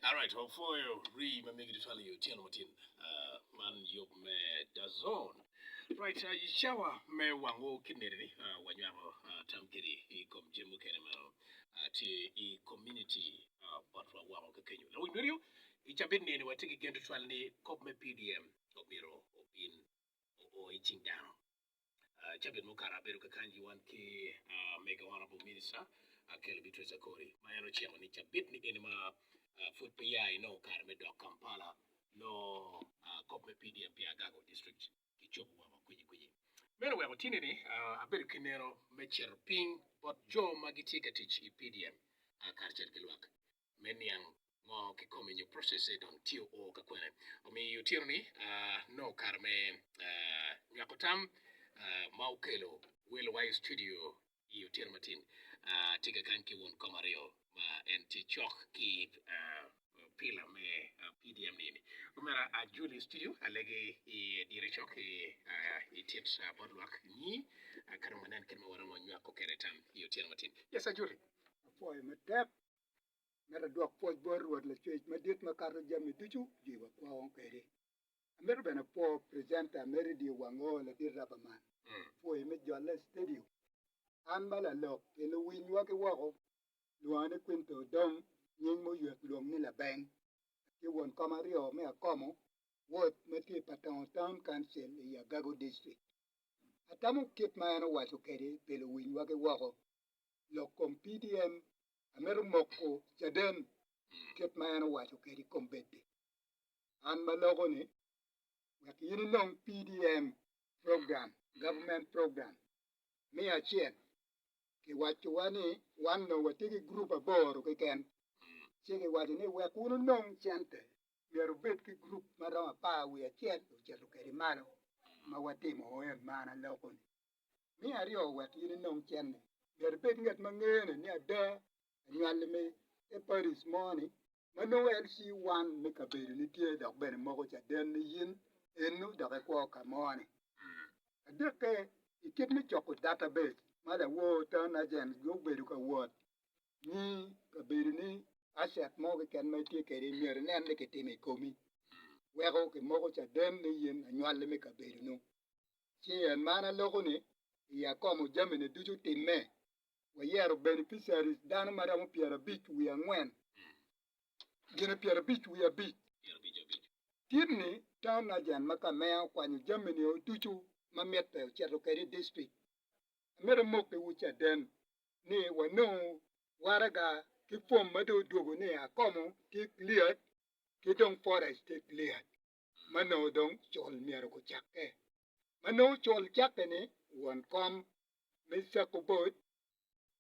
Alright, wafoyo rii ma megi tutwal yo channel matin uh, man yub me dazon. Right, uh, shawa me wango kineri ni uh, wanywako uh, tam kiri i kom jami mukene ma uh, tye i community uh, botwa woko kakenyo. Lawiny medio, i cabit nini watye ki gen tutwal ni kop me PDM obiro obin o i cing dano. Cabit mukato abedo ka kany-nyi wan ki mega Honourable Minister Kelly Beatrice Akori ma en ociko ni cabit-ni eni ma pud pe ya inongo kare me dok Kampala nongo kop me PDM pi Agago District kicobo woko kwinyi kwinyi. Meno oweko tini-ni abedo ki neno me cito piny bot jo ma gitye ka tic i PDM karacel ki lwak. me niang ngo kikome nyo process e dong tye oo ka kwene omiyo otyeno ni nongo kare me nywako tam ma okelo welo wa i studio i otyeno matin tye ka kany ki won kom aryo ma en tye cok ki pila me PDM ni omera ajuli studio alege i dire cok i tit bot lwak nyi kadong wanen kit ma waromo nywako kede tam i otyeno matin yes ajuli. Apwoyo matek Amito adwok pwoc bot Rwot Lacwec Madit makato jami ducu jwiwa kwong kwede. Amito bene apwo presenter Meredie Wango ladit Rubberman pwoye me jolle i stadio. An ma lalok pi luwinywa ki woko lwonga ni Quinto Odong nying ma oyot lwong ni Labeng. Atye won kom aryo me Akomo ward ma tye i Patongo Town Council i Agago District. Atamo kit ma en owaco kwede pi luwinywa ki woko. lok kom PDM amito moko caden kit ma en owaco kede i kom bed-di. An ma loko ni wek in inong PDM program, government program, me acel ki waco wa ni wan onongo watye ki group aboro keken ci ki waco ni wek wun wunong cente myero wubed ki group ma romo apar wiye acel ocito kede malo ma watimo en man aloko ni. Me aryo wek in inong cente myero ibed ngat ma ngene ni ada anywali me te Paris mo ni ma nongo LC one me kabedo ni tye dok bene moko caden ni in eno dok ikwo ka mo ni. Adikke i kit me coko data base ma lawor town agent gubedo ka wot nyi kabedo ni asset mo keken ma itye kwede myero inen ni kitimo i komi weko kimoko caden ni in anywali me kabedo nu. ci en man aloko ni iya akomo jamini ducu timme. Wayero beneficiaries dano ma romo pyera abic wiye angwen gine pyera abic wiye abic. Tit ni town agent ma kameya okwanyo jamini o ducu ma mitte oceto kede i district. Amito amokki wu caden ni wanongo waraga ki form ma dong odwogo ni akomo tye cleared ki dong forage tye cleared. ma nongo dong col myero gucakke, ma nongo col cakke ni won kom me cako bot,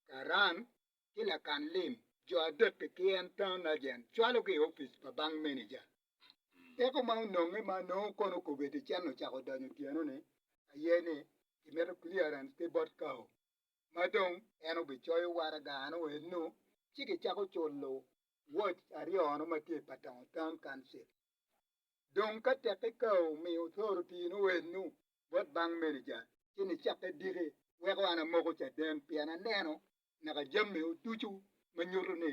karan, ki lakan lim. Jo adek-ki ki en town agent cwalogi i opic pa bank manager. Dako ma ononge ma nongo kono kobedi i cen ocako donyo otyeno ni aye ni kimito clearance ki bot kawo ma dong en obicoyo waraga ano eno ci gicako culo watch aryo ono ma tye i Patongo town council. Dong ka tekki ka omiyo wutoro tino eno bot bang meneja, ci nicakke diki wek wan amoko caden, pien aneno naka jamiwu ducu ma nyuto ni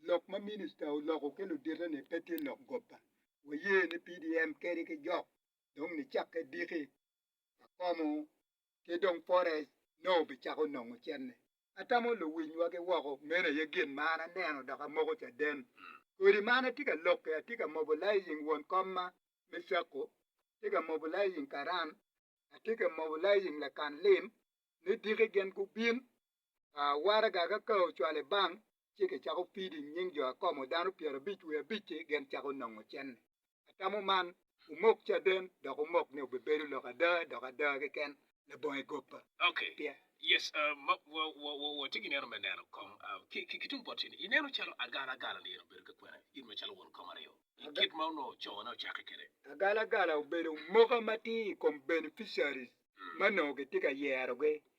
lok ma minista oloko ki ludite-ni pe tye lok goba. Waye ni PDM kadi ki jok, dong nicakke diki, akomo ki dong pote nongo obicako nongo cente. Atamo luwinywa ki woko, meno aye gin ma an aneno dok amoko caden. Kodi ma an atye ka lokke, atye ka mobo lai i nying won komma me Cakko, atye ka mobo lai i nying Karan, atye ka mobo lai i nying Lakan Lim, ni diki gin gubin waraga ka kare ocwale bang, ci kicako pido i nying jo akomo dano pyerabic wiye abic-ci gin cako nongo cene. Atamo man omok caden dok omok ni obibedo lok ada dok ada keken labongo egoppa. Pye. Yes, ma wa, wa, wa, watye ki neno me neno kong ah, ki, ki, ki tung bote-ni. Ineno calo agalagala-ni en obedo ki kwena in macalo won kong aryo, i Aga- kit ma onongo cone ocakke kwede? Agalagala obedo moka matir i kom beneficiaries Mm. ma onongo kitye ka yerogi.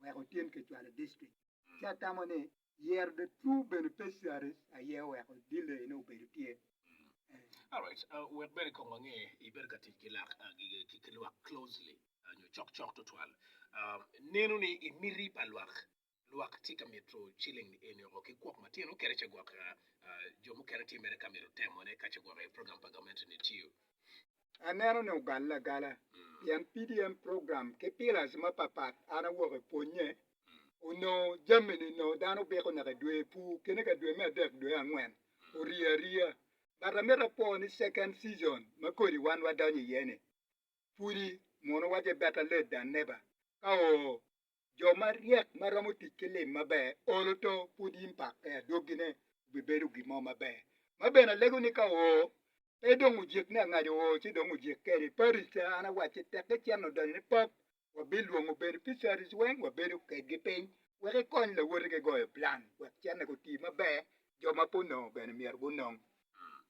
wek otim kicwalo district ci atamo ni yero the true beneficiaries aye oweko delay ne obedo tye. Alright, uh, wek bene kong wange ibedo ka tic ki lak uh, gi- ki ki lwak closely uh, nyo cok cok tutwal. Uh, neno ni i miti pa lwak lwak tye ka mito ciling ni eni oko ki kwok matino kede ca gwok uh, uh, jo mukene tye mere ka mito temone ka ca gwok i program pa gamente ni tiyo. aneno ni ogalle agala pien PDM program ki pillars mapapat an awok i pwonye onongo jami-ni onongo dano biko naka i dwe pur kene ka dwe me adek dwe me angwen orye aryeya but amito apwo ni second season ma kodi wan wadonyo iye-ni pudi mono wace better late than never ka oo Jo maryek ma romo tic ki lim maber olo to pud in pak pe adwogine obibedo gin mo maber. Ma bene alego ni ka oo pe dong ojik ni angaco oo ci dong ojik kede paris ca an awacci tek iceno donyo ni pap wabilwongo beneficiaries weng wabedo kedgi piny wek ikony lawoti ki goyo plan wek cene guti maber jo ma pe onongo bene myero gunong.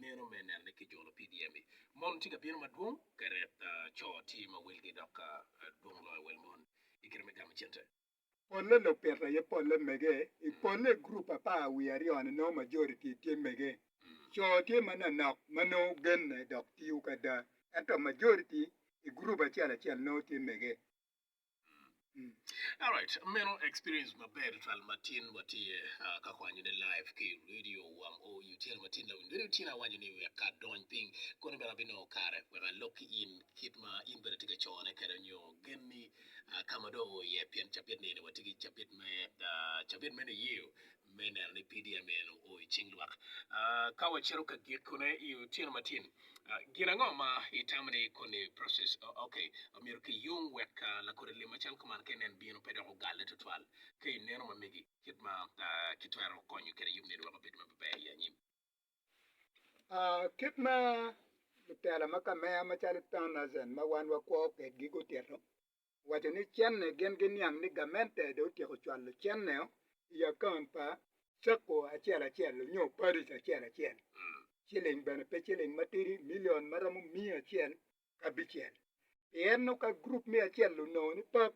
meno me nenne ki jolo PDM-mi. Mon tye ka bino madwong ka ret co tye ma welgi dok dwong loyo wel mon i kite me gamo cente. Polle lupito aye polle mege. I polle i gurup apar wiye aryo-ni nongo majoriti tye mege. Co tye manonok ma nongo genne dok tiyo ki ada, ento majoriti i gurup acel acel nongo tye mege. Alright, meno experience maber twal matin watiye ah, ka kwanyo ne live ki radio wam o yu tyer matin la win radio tyen awanyo ni wek ka dony piny kono bene abino kare wek alok ki in kit ma in bene tye ka cone kede nyo gen ni ah, ka ma do o iye pien cabit ni ni wati ki cabit me ah, cabit me niyeyo me neno ni PDM eno o i cing lwak. Ka wacito ka gikone i otyeno matin, gin ango ma itamo ni koni process ok myero kiyung wek lakodi lim macal kuman ka inen bino pe dok ogalle tutwal? Ka ineno ma megi, kit ma kitwero konyo kede yub nino wek obed ma beber i anyim? Kit ma lutela ma kameya macalo Tom Azen ma wan wakwo kedgi gutito, owaco ni cenne gin giniang ni gamente dong otyeko cwalo cenneo i akaont pa Sacco acel acel nyo Parish acel acel, ciling bene pe ciling matidi milion ma romo miya acel ki abicel. Pien nongo ka gurup me acel onongo ni pap,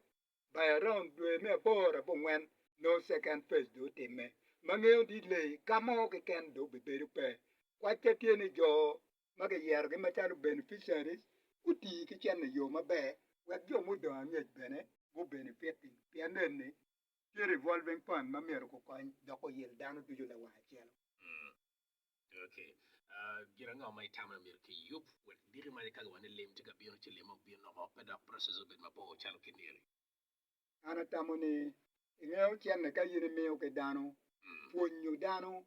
by around dwe me aboro abongwen nongo second phase dong otimme, ma ngeyo ni leyi ka mo keken dong obibedo pe. Kwacca tye ni jo ma kiyerogi macalo beneficiaries guti ki cente i yo maber wek jo mudong angec bene gubenefit-ti. Pien nenni, tye revolving fund ma myero gukony dok guyil dano ducu lawang acel. Gin ango ma itamo ni myero kiyub wek diki ma kagi wa ni lim tye ka bino ci limme ok bi noko pe dok process obed mabor calo kiniri? An atamo ni ingeyo cente ka in imiyo ki dano, pwonyo dano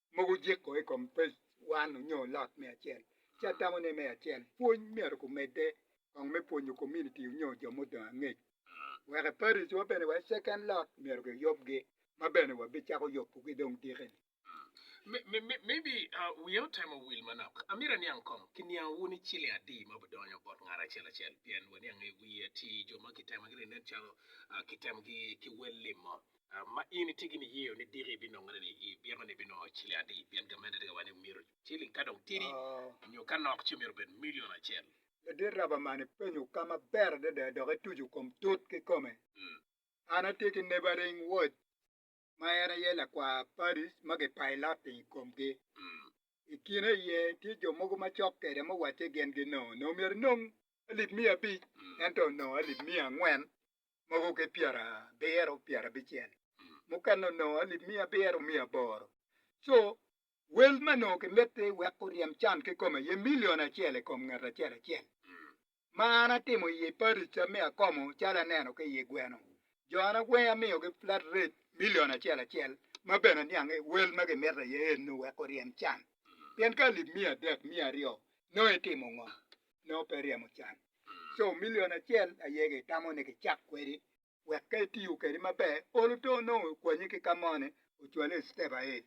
mogo jeko i kom page one onyo lot me acel ci atamo ne me acel pwony myero ku medde kong me pwonyo community onyo jo mudong angec wek i parish wa bene wek second lot myero ki yub gi ma bene wa bi cako yubu gi dong diki ni. Maybe wiya otemo wil manok. Amito aniang kong ki niang wu ni ciling adi ma budonyo bot ngat acel acel pien waniang i wiye ti jo ma ki temo gi nen calo ki temo gi ki wel lim mo. ma in itye gin iyeyo ni diki binongere ni i byeko ni binongo ciling adi pien gamente tye ka waco ni myero ciling ka dong tidi nyo ka nok ci myero obed milion acel. Ladit raba man ipenyo ka maber adada dok ituco kom tut kikome. An atye ki neighboring watch ma en aye lakwar parties ma ki piloting i komgi. I kine iye tye jo mogo ma cok kwede ma owacce gin ginongo onongo myero inong alip miya abic ento onongo alip miya angwen mogo ki pyerabiro pyerabicel, mukene onongo alip miya abiro miya aboro. Co wel ma onongo kimiti wek guryem can kikome aye milion acel i kom ngat acel acel. Ma an atimo i ye parica me akomo calo aneno ki iye gweno, jo an agwengo amiyogi flat rate milion acel acel ma bene aniang ni wel ma gimiti aye eno wek guryem can. Pien ka alip miya adek miya aryo nongo itimo ngo? Nongo pe iryemo can. co milion acel aye gitamo ni kicak kwedi wek ka itiyo kwedi maber olo to onongo okwanyi ki ka moni ocwali i step aye.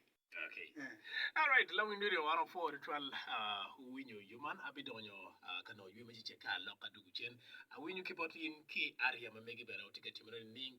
Okay. Eh. Alright, Lawiny Radio 104 tutwal uh, uwinyo yo man abidonyo uh, ka nongo ywe me cece ka alok ka dugu cen. Awinyo ki bot in ki aria ma megi bene otye ka timone nining?